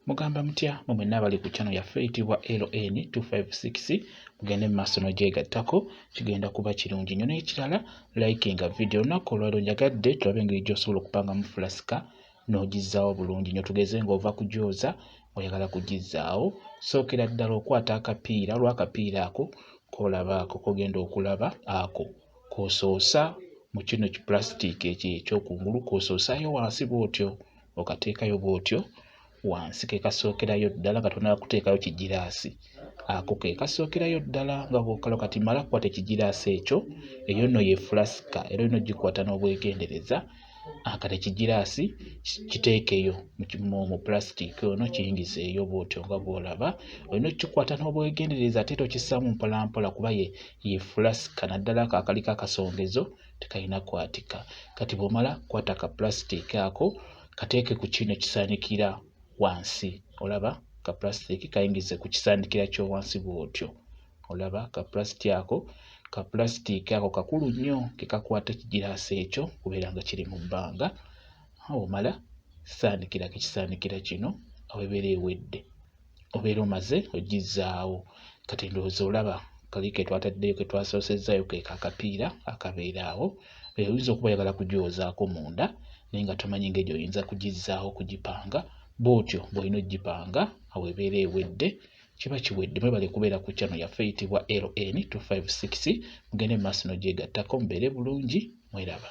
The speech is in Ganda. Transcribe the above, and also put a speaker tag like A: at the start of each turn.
A: Mugamba mutya mwe mwenna abali ku channel yaffe eyitibwa LN 256 mugende mu maaso n'ogyegattako kigenda kuba kirungi nnyo n'ekirala likinga video olunaku olwaliro njagadde tulabe engeri gy'osobola okupangamu fulasika n'ogizzaawo bulungi nnyo tugeze ng'ova kugyoza oyagala kugizzaawo sookera ddala okwata akapiira olw'akapiira ako k'olaba ako kogenda okulaba ako k'osoosa mu kino kipulasitika ekyo ekyokungulu k'osoosaayo wansi bw'otyo okateekayo bw'otyo wansi ke kasookerayo ddala nga tonaba kuteekayo kigiraasi ako ke kasookerayo ddala nga bwokalo kati mala kukwata ekigiraasi ekyo eyo nno ye fulasika era olina ogikwata n'obwegendereza akati ekigiraasi kiteekeyo mu pulasitiiki ono kiyingizeeyo bw'otyo nga bw'olaba olina okukikwata n'obwegendereza ate era okissaamu mpolampola kuba ye ye fulasika naddala ako akaliko akasongezo tekalina kwatika kati bwomala kwata ka plastic ako kateeke ku kino kisaanikira wansi olaba ka plastic kayingize ku kisaanikira ky'owansi bw'otyo olaba ka plastic ako ka plastic ako kakulu nnyo ke kakwata ekigiraasi ekyo kubeera nga kiri mu bbanga omala saanikira ku kisaanikira kino awo ebeera ewedde obeera omaze ogizzaawo kati ndowooza olaba kali ke twataddeyo ke twasoosezzayo ke kakapiira akabeera awo oyinza okuba oyagala kugyozaako munda naye nga tomanyi ngeri oyinza kugizzaawo kugipanga bw'otyo bw'olina okugipanga awo ebeera ewedde kiba kiwedde mwebale kubeera ku channel yaffe eyitibwa ln 256 mugende mu maaso n'ogyegattako mubeere bulungi mweraba